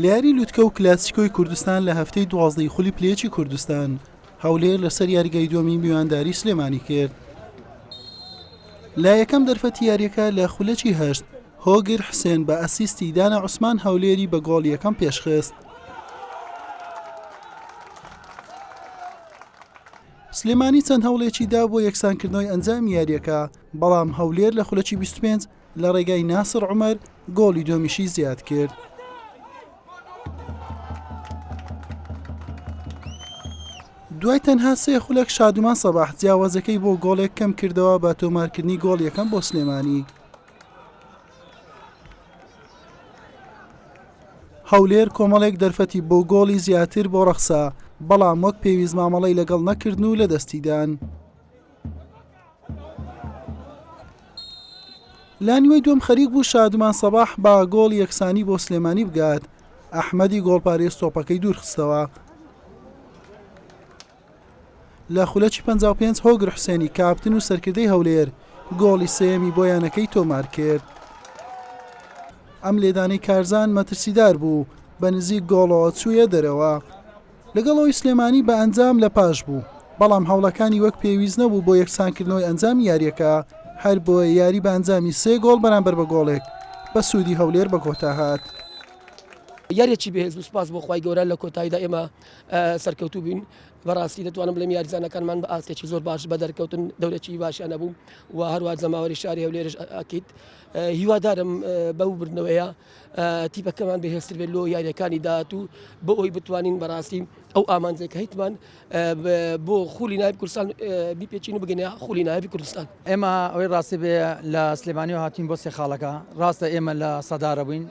لەیاری لوتکە و کلاسیکۆی کوردستان لە هەفتەی دوازدەی خولی پلێچی کوردستان هەولێر لەسەر یاریگای دومی میوانداری سلێمانی کرد لە یەکەم دەرفەتی یاریەکە لە خولەکی هەشت هۆگر حسێن بە ئەسیستی دانە عوسمان هەولێری بە گۆڵ یەکەم پێشخست سلێمانی چەند هەوڵێکی دا بۆ یەکسانکردنەوەی ئەنجام یاریەکە بەڵام هەولێر لە خولەکی 25 لە ڕێگای ناسڕ عومەر گۆڵی دۆمیشی زیاد کرد. دوای تەنها سێ خولەک شادومان سەباح جیاوازەکەی بۆ گۆڵێک کەم کردەوە بە تۆمارکردنی گۆڵ یەکەم بۆ سلێمانی هەولێر کۆمەڵێک دەرفەتی بۆ گۆڵی زیاتر بۆ ڕەخسا بەڵام وەک پێویست مامەڵی لەگەڵ نەکردن و لە دەستیدان. لە نیوەی دووەم خەریک بوو شادمان سەباح بە گۆڵی یەکسانی بۆ سلێمانی بگات ئەحمەدی گۆڵپارێز تۆپەکەی دوورخستەوە لە خولەکی 55 هۆگر حوسێنی کاپتن و سەرکردەی هەولێر گۆڵی سێمی بۆ یانەکەی تۆمار کرد ئەم لێدانەی کارزان مەترسیدار بوو بە نزیک گۆڵەوە چوویە دەرەوە لەگەڵ ئەوەی سلێمانی بە ئەنجام لە پاش بوو، بەڵام هەوڵەکانی وەک پێویست نەبوو بۆ یەکسانکردنەوەی ئەنجامی یارییەکە، هەربۆیە یاری بە ئەنجامی سێ گۆڵ بەرامبەر بە گۆڵێک بە سوودی هەولێر بە کۆتا هات. یاریەکی بەهێز بوو سوپاس بۆ خوای گەورە لە کۆتاییدا ئێمە سەرکەوتوو بووین بەڕاستی دەتوانم بڵێم یاریزانەکانمان بە ئاستێکی زۆر باش بە دەرکەوتن دەورێکی باشیان نەبوو و هەروە جەماوەری شاری هەولێرش ئەکیت هیوادارم بەو بردنەوەیە تیپەکەمان بەهێزتر بێت لۆ یاریەکانی داهاتوو بۆ ئەوی بتوانین بەڕاستی ئەو ئامانجێک هەیتمان بۆ خولی نایب کوردستان بیپێچین و بگەنە خولی نایبی کوردستان ئێمە ئەوەی ڕاستی بێ لە سلێمانی و هاتین بۆ سێ خاڵەکە ڕاستە ئێمە لە سەدارە بووین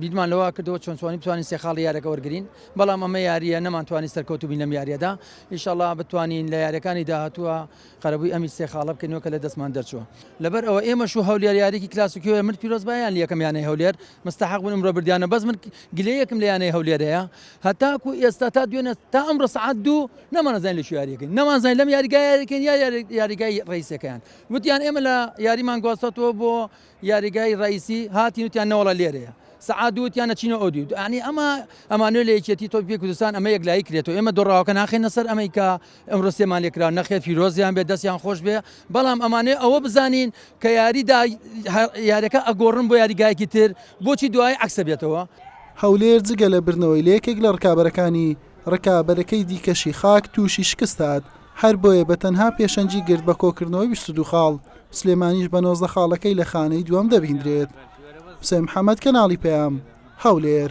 بیدمان لەوە کردەوە چۆن چوانی بتوانین سێ خاڵی یارەکە وەرگین بەڵام ئەمە یاریە نەمانتوانی سەرکەوتوبین لەم یاریەدا ئیشەڵا بتوانین لە یارەکانی داهتووە قەرەبووی ئەمیت سێ خاڵە بکەینەوە کە لە دەستمان دەرچووە. لەبەر ئەوە ئێمەش و هەولێر یاریەکی کلاسیکیۆ یە من پیرۆز با یان یەکەم یانەی هەولێر مستەحەق بوون ئمڕۆ بردیانە بەس من گلەیەکم لە یانەی هەولێر هەیە هەتاکو ئێستا تا دوێنێ تا ئەمڕۆ سەعات دوو نەمانەزانین لە چ یاریەکەین نەمانزانین لەم یاریگای یاریکەین یا یاریگای ڕئیسەکەیان وتیان ئێمە لە یاریمان گواستەوە بۆ یاریگای ڕئیسی هاتین وتیان نەوەڵا لێرەیە سەعات دوو وتیان نەچینە ئەو دیو ئەنی ئەمە ئەمانوێ لە یەکێتی تۆپی کوردستان ئەمە یەکلایی کرێتەوە ئێمە دۆڕاوەکە ناخینە سەر ئەمەی کە ئەمڕۆ سێمان لێکرا نەخێر پیرۆزیان بێت دەستیان خۆش بێ بەڵام ئەمانەیە ئەوە بزانین کە یاریدا یاریەکە ئەگۆڕن بۆ یاریگایەکی تر بۆچی دوای عکسە بێتەوە. هەولێر جگە لە بردنەوەی لە یەکێک لە رکابەرەکانی، رکابەرەکەی دیکەشی خاک تووشی شکست هات، هەربۆیە بە تەنها پێشەنگی گرت بە کۆکردنەوەی بیست و دوو خاڵ، سلێمانیش بە نۆزدە خاڵەکەی لە خانەی دووەم دەبیندرێت. حوسێن محەمەد، کەناڵی پەیام، هەولێر.